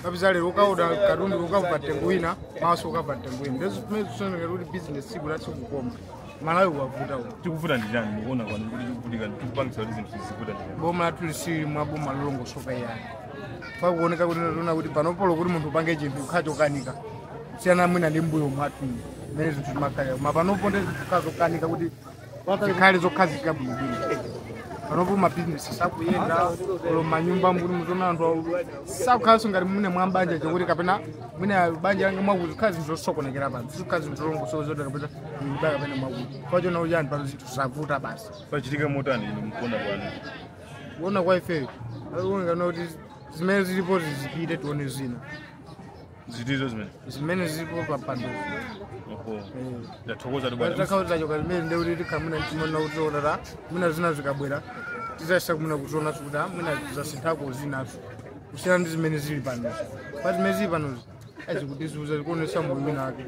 ukapeza lero ukaoda katundu ukava mtengo wina mawa ukava mtengo wina ndizo zimene zikusonyeza kuti bizinesi siku la tsiku koma malawi wavuta uku chikuvuta ndi chani mukuona kwanu kuti tikuvutika chikupangisa kuti zinthu zikuvuta ndi chani boma lathu silili mwa boma lolongosoka yayi pakuoneka kuti taona kuti panopo olo kuti munthu upange chinthu chikhala chokanika kusiyana mwina ndi mbuyo mwathu mmene zinthu zimakhalira koma panopo ndi zinthu zikhala zokanika kuti zikhale zokhazikika bwinobwino panopo mabizinesi sakuyenda olo m'manyumba kuti muziona anthu sakukhalanso ngati muno m'mabanja chakuti kapena mwina banja langa mwakuti zikhala zinthu zosokonekera pano zikhala zinthu zolongosoka zoti kapena nyumba kapena mwakuti pachani pachani pano zinthu zavuta basi pachitike motani inu mukuona kwanu kuona kwa ifeyo akuoneka kuti zimene zilipo zizipite tione zina zitizo zimene zimene zilipo pa mpandopo oho ndathokoza tu bwana takhautira choka limene nde kuti tikhamuna timaona kutionera mwina zina zikabwera tizayesa kumuna kutiona kuti ah, mwina zasinthako zinazo kusiyana ndi zimene zili panozi pa zimene zili panozi zikutizunza zikutionesa moyo wina wake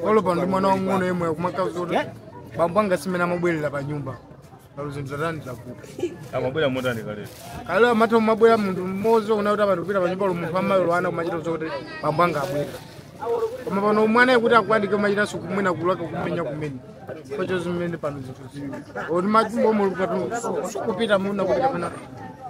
olo pano ndi mwana wang'ono yemwe akumakauza kuti bambo anga simene amabwerera pa nyumba Kuti zinthu zatani zavuta. amabwera motani kalero Kalelo amatha kumabwera munthu mmodzi una kuti abantu kupita panyumba munthu amayi olo ana kumachita zokuti bambo anga abwera. Koma pano mwanayo kuti akwanike kumachitanso kumwina kulaka kumenya kumene. Choncho zimene pano zinthu zili. Oti machumba omwe kupita muna kuti kapena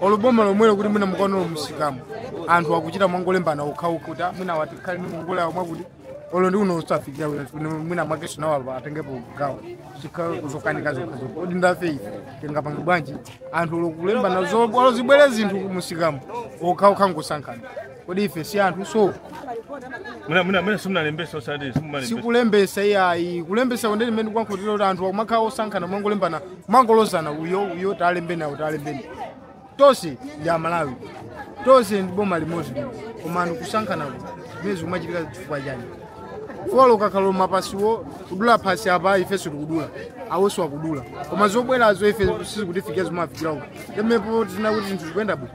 olo boma lomwelo kuti mwina mukaona olo mumsikamu anthu akuchita mwangolembana okhaokha kuti "Ah, mwina kwati kuli ndi ngongole awo mwakuti olo ndi uno usafikira wina kuti mwina mwakenso nawo apa atengepo gawo zikhala zokanika zokhazokha kodi nda ife tingapange bwanji anthu olo kulembana zo- olo zibwere zinthu mumsikamu okhaokha ngosankhana kodi ife si anthuso Muna muna muna simunalembesa osati simunalembesa. sikulembesa iyayi kulembesa kwake ndi mmene kwakhotera kuti anthu akumakhala osankhana mwangolembana mwangolozana uyo uyo talembeni awo talembeni tonse ndi amalawi tonse ndi boma limodzi lino koma anthu kusankhanaku zimenezi kumachitika chifukwa chani olo ukakhala mapasiwo kudula phasi apa ifenso tikudula awonso akudula koma zobwerazo ife sizikutifikira zimafikira awo temepo tinene kuti zinthu zikuyenda bwino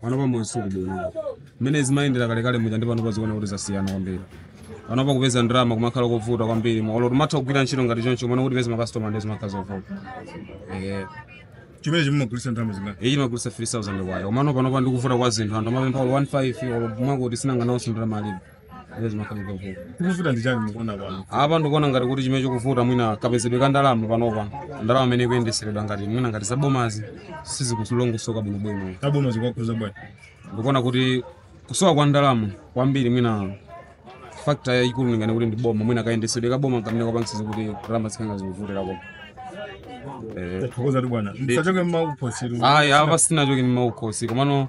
Pano pa moyo suli bwino. Mmene zimayendera kale kale muja ndi panopa zikuoneka kuti zasiyana kwambiri. Pano pa kupeza ndalama kumakhala kovuta kwambiri. Olo timatha kugwira ntchito ngati choncho mwina kuti tipeze ma customer ndi zimakhala zovuta. Eh. chimenechi mumagulitsa ndalama zingati Iyi timagulisa 3000 kwayo. Komano panopa ndikuvuta kwa zinthu anthu amapempha olo 15 olo mwangoti sinanga nawo chindira malipo. Zimene zimakhala zovuta. Chikuvuta ndi chani mukuona pano? apa ndikuona ngati kuti chimene chikuvuta mwina kapezedwe ka ndalama panopa ndalama imene ikuyendeseredwa ngati mwina ngati zabomazi sizikutilongosoka bwinobwino Zabomazi zikukhudza bwanji. ndikuona kuti kusowa kwa ndalama kwambiri mwina factor yayikulu ndinganene kuti ndi boma mwina kayendesedwe ka boma kamene kakupangisa kuti ndalama zikhale zikuvutira boma Eh, Tathokoza tu bwana. Musachoke ndi maukhosi. ayi apa sitinachoke ndi maukhosi komano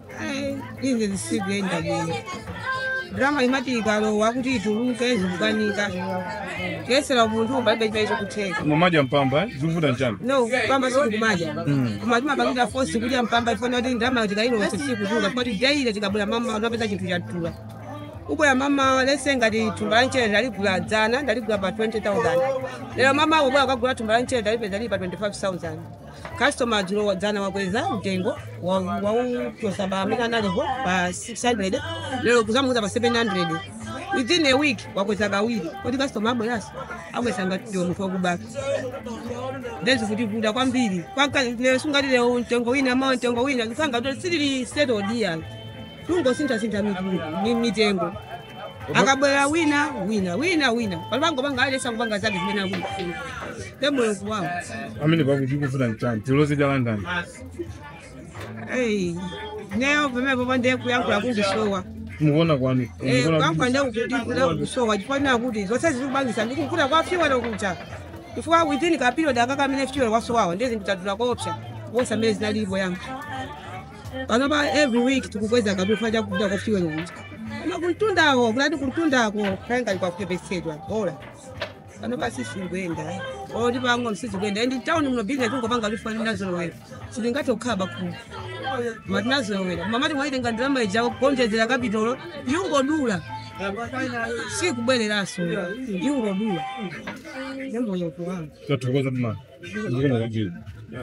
Ai, izi sizikuyenda bwino ndalama imati ikalowa kuti ituluke zikukanika kuyesera munthu palibe chimene chikutheka mumadya mpamba eh? zikuvuta nchani no mpamba sikumadya koma timapangidwa fosi kudya mpamba chifukwa choti ndalama tikayilowese sikutuluka poti daily tikabwera mmamawa timapeza chinthu chadula ubwera mmamawa lese ngati thumba la mchere ndaligula dzana ndaligula pa 20000 lero mmamawa ubwera ukagula thumba la mchere ndalipeza lili pa 25000 Customer dzulo dzana wakweza mtengo wa- wauchosa pamene unalipo pa 600 lero kuzamuza pa 700 within a week wakweza kawiri kodi customer abweraso akutenga ngati ndiwe munthu wakubatu then zikutivuta kwambiri Kwaka- lero sungati lero mtengo wina mawa mtengo wina kusonyeza kuti sizili settled yani tungosintha-sintha mitu- mi- mitengo akabwera wina wina wina wina aliyense pangopanga aliyese kupanga zake zimene akufuna te mulungu wawo amene akuchifuna nchani tilozi chalandani Eyi, ineyo pamene pano nde kuyankhula kukundisowa mukuona kwanu Eh, kuyankhula ndekukutikuda kusowa chifukwa choti zonse zikupangisa ndikukuti kwa fyuwelo kuja chifukwa within ka period aka kamene fyuwelo wasowawo nde zinthu zadula koopsa wonse amene zinalipo yankho panopa every week tikukweza chifukwa cha kudula kwa fuel uja koma kumtundako kulibe kumtundako kangakhale kwakupepetsedwa olo panopa sizikuenda oti pano sizikuenda mu town muno business kungopanga chifukwa tinazolowera sitingathe kukhala pakhomo koma tinazolowera koma mumati mwaitenga ndalama ija kuonjezera kapitolo ikungodula sikubwereranso ikungodula nemboyokuwanga Tathokoza mama. Zikomo kwambiri.